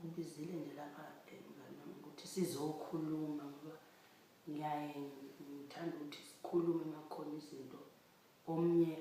ngibizile nje lapha mngani wami ukuthi sizokhuluma ngoba ngiyaye ngithanda ukuthi sikhulume makhona izinto omnye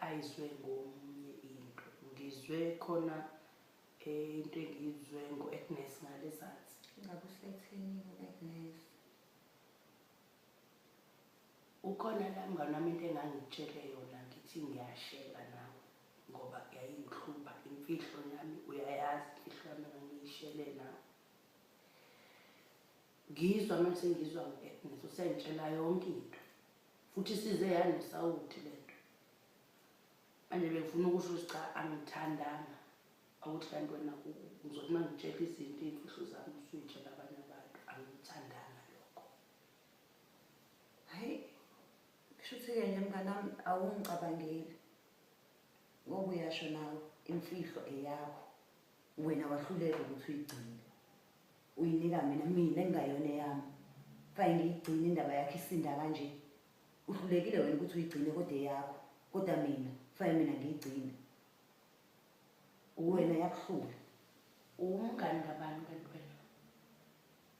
ayizwe ngomunye into ngizwe khona eh, into engiyizwe ngo-agnes ngalezansi ngabe usethini u-agnes ukhona la mngane wami into engangitshele yona ngithi ngiyashela nawe ngoba yayingihlupha imfihlo yami uyayazi imfihlo yami ngangiyishele nawe ngizwa manje sengizwa ngithi usengitshela yonke into futhi size yanesawuthi le nto manje bengifuna ukusho ukuthi cha angithandanga awuthi kanti wena ngizothi uma ngitshela izinto iy'mfihlo zami usuyitshela abanye abantu angithandanga lokho hhayi kusho ukuthi-ke nje mnganami awungicabangeli ngoba uyasho nawe imfihlo eyakho wena wahluleka ukuthi uyigcine uyinika mina mina engingayona eyami kanye ngiyigcine indaba yakho isinda kanje uhlulekile wena ukuthi uyigcine kodwa eyakho kodwa mina fane mina ngiyigcine wena yakuhlula uwumngani ngabani kanti wena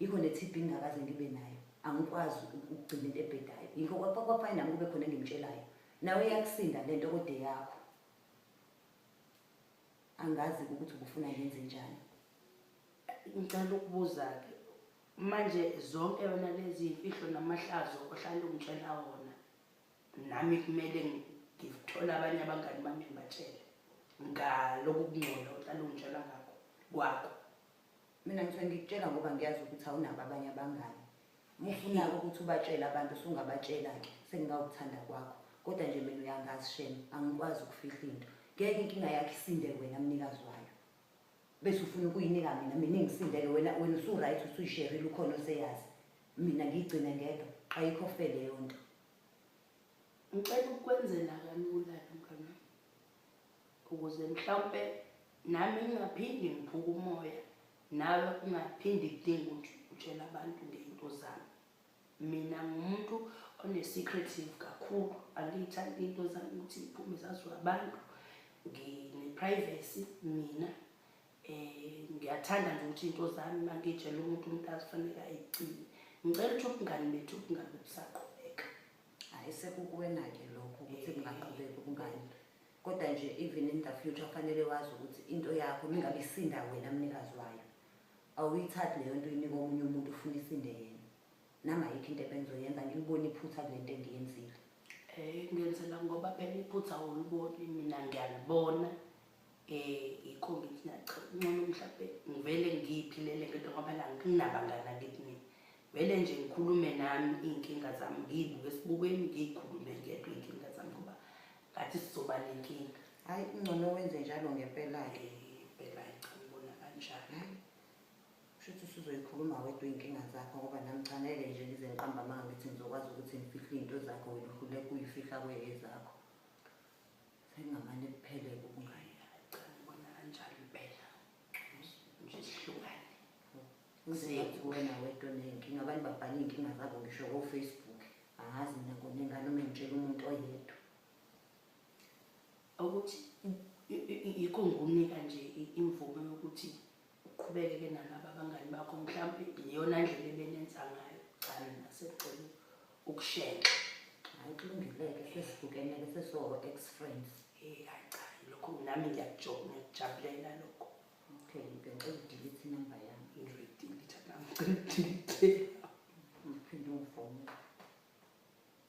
yikho ne-tb ngingakaze ngibe nayo angikwazi ukugcina into ebhedayo yikho kwafane nami kube khona engimtshelayo nawe iyakusinda le nto kode yakho angazi ukuthi ubufuna ngenze njani ngicela ukubuza-ke manje zonke yona lezi yimfihlo namahlazo ohlale ungitshela wona nami kumele ngithole abanye abangani bami ngibatshele ngaloku kungcola ohlale ungitshela ngakho kwakho mina ngithe ngikutshela ngoba ngiyazi ukuthi awunabo abanye abangani mufunako ukuthi ubatshele abantu sungabatshela-ke sengingawuthanda kwakho kodwa nje mina uyangazi shema angikwazi ukufihla into ngeke inkinga yakho isinde wena mnikazi wayo bese ufuna ukuyinika mina mina engisindeke wena wena usu-right usuyisherile ukhona oseyazi mina ngiyigcine ngedwa qayikho fe leyo nto ngicela ukukwenzela kalula lo mntwana ukuze mhlawumpe nami ngingaphindi ngiphuke umoya nawe ungaphindi kudinga ukuthi utshela abantu ngento zami mina ngumuntu one-secretive kakhulu angiyithandi into zami ukuthi iphume zaziwa abantu ngine-privacy mina um ngiyathanda nje ukuthi into zami uma ngiyitshela umuntu umuntu azifanele ayigcine ngicela ukuthi ubungani bethu bungabe busaqo hayi sekukuwena-ke lokho ukuthi kungaqhubeki ubungani kodwa nje even in the future kufanele wazi ukuthi into yakho mingabe isinda wena mnikazi wayo awuyithathi leyo nto uyinika omunye umuntu ufuna isinde yena nami ayikho into ebengizoyenza ngilibona iphutha kule nto engiyenzile um ngenzela ngoba phela iphutha awuliboni mina ngiyalibona eh yikho ngithi nacha ncono mhlawumbe ngivele ngiyiphilele ngento ngoba la nginabangani akithi mina vele nje ngikhulume nami iy'nkinga zami ngiyibuke esibukweni ngiyikhulume ngedwa iy'nkinga zami ngoba ngathi sizoba nenkinga hhayi kungcono wenze njalo ngempela-ke impela eh, cha ngibona kanjalo hayi kusho ukuthi usuzoyikhuluma wedwa iy'nkinga zakho ngoba nami cha ngeke nje ngize ngiqamba amanga ngithi ngizokwazi ukuthi ngifihle iy'nto zakho wena uhluleka uyifihla kweyezakho Sengamane kuphele ubungane. Cha ngibona kanjalo impela. Nje sihlukane. Ngizethu wena wedwa onenkinga abantu babhala iy'nkinga zabo ngisho ko-facebook angazi mina ngona ingane uma ngitshela umuntu oyedwa ukuthi yikho ngikunika nje imvume yokuthi uqhubekeke nalaba abangani bakho mhlawumbe iyona ndlela ebenenza ngayo cha mina sekucela ukushenxa hayi kulungileke sesibukeneke sesiwo-ex friends hey hayi cha lokho nami ngiyakujabulela lokho okay ngicela udilithe inumber yami ngiyoyidilitha nami ngicela udilithe ngiphinde ungifone